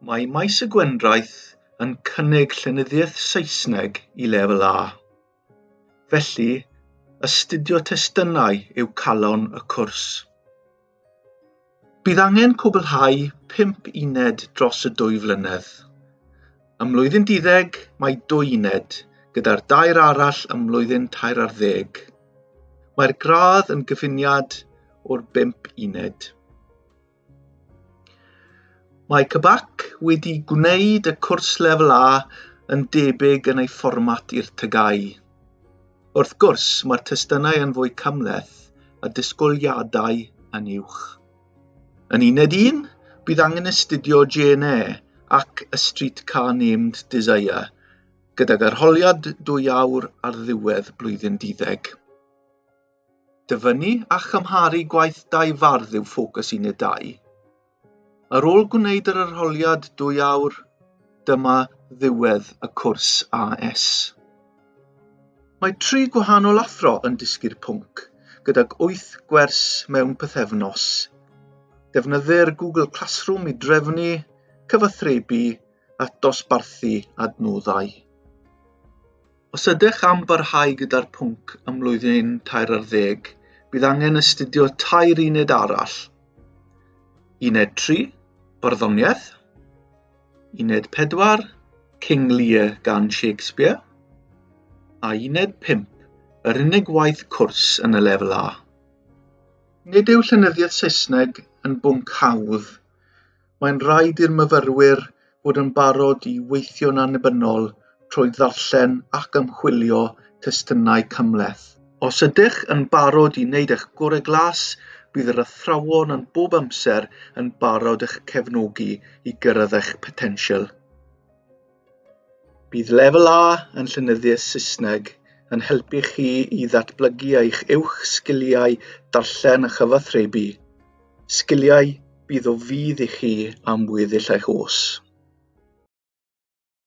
Mae Maes y Gwendraeth yn cynnig llenyddiaeth Saesneg i lefel A. Felly, astudio testunau yw calon y cwrs. Bydd angen cwblhau 5 uned dros y dwy flynedd. Ym mlwyddyn diddeg mae dwy uned, gyda'r dair arall ym mlwyddyn tair ar ddeg. Mae'r gradd yn gyfuniad o'r 5 uned. Mae Cybac wedi gwneud y cwrs lefel A yn debyg yn ei fformat i'r TGAU. Wrth gwrs, mae'r testunau yn fwy cymhleth a disgwyliadau yn uwch. Yn uned un, bydd angen astudio GNE ac y Streetcar Named Desire, gydag arholiad dwy awr ar ddiwedd blwyddyn duddeg. Dyfynnu a chymharu gwaith dau fardd yw ffocws un y dau. Ar ôl gwneud yr arholiad dwy awr, dyma ddiwedd y cwrs AS. Mae tri gwahanol athro yn dysgu'r pwnc, gydag wyth gwers mewn pythefnos. Defnyddir Google Classroom i drefnu, cyfathrebu a dosbarthu adnoddau. Os ydych am barhau gyda'r pwnc ym mlwyddyn tair ar ddeg, bydd angen astudio tair uned arall. Uned 3, Barddoniaeth. Uned 4, King Lear gan Shakespeare. A uned 5, yr unig waith cwrs yn y lefel A. Nid yw llenyddiaeth Saesneg yn bwnc hawdd, mae'n rhaid i'r myfyrwyr fod yn barod i weithio'n annibynnol trwy ddarllen ac ymchwilio testunau cymhleth. Os ydych yn barod i wneud eich gorau glas, bydd yr athrawon yn bob amser yn barod eich cefnogi i gyrraedd eich potensial. Bydd Lefel A yn Llynyddiaeth Saesneg yn helpu chi i ddatblygu eich uwch sgiliau darllen a chyfathrebu, sgiliau bydd o fudd i chi am weddill eich oes.